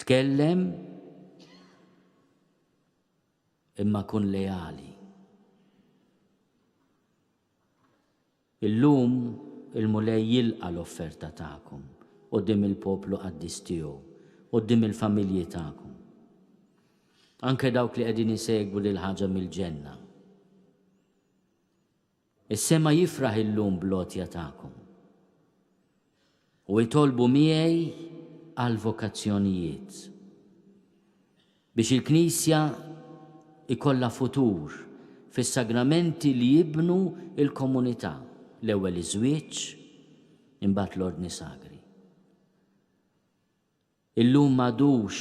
Tkellem imma kun leali. Illum il-Mulej jilqa l-offerta tagħkom qudiem il-poplu qaddis tiegħu, qudiem il-familji tagħkom. Anke dawk li qegħdin isegwu lil ħaġa mill-ġenna. Is-sema jifraħ illum bl-għotja tagħkom. U itolbu miegħi għall-vokazzjonijiet, biex il-Knisja jkollha futur fis-sagramenti li jibnu l-komunità, l-ewwel iż-żwieġ, imbagħad l-ordni sagri. Illum m'għadux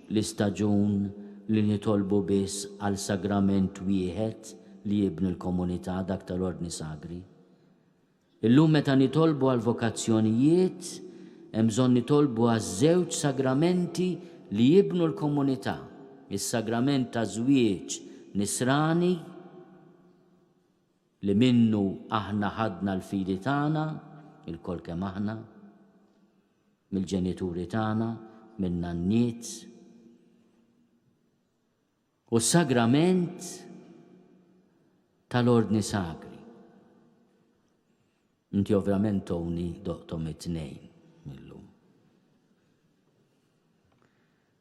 l-istaġun li nitolbu biss għal sagrament wieħed li jibni l-komunità, dak tal-Ordni Sagri. Illum meta nitolbu għall-vokazzjonijiet, hemm bżonn nitolbu għaż-żewġ sagramenti li jibnu l-komunità, is-sagrament taż-żwieġ nisrani li minnu aħna ħadna l-fidi tagħna, ilkoll kemm aħna, mill-ġenituri tagħna, min-nanniet. U s-sagrament tal-ordni sagri. Inti ovvjament toni doqtom it-tnejn.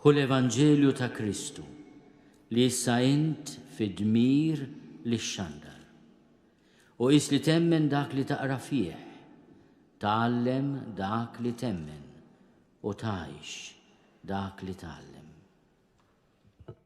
Hu l-Evanġelju ta' Kristu li issa int fid-dmir li xxandar. U qis li temmen dak li taqra fih, tgħallem dak li temmen u tgħix dak li tgħallem.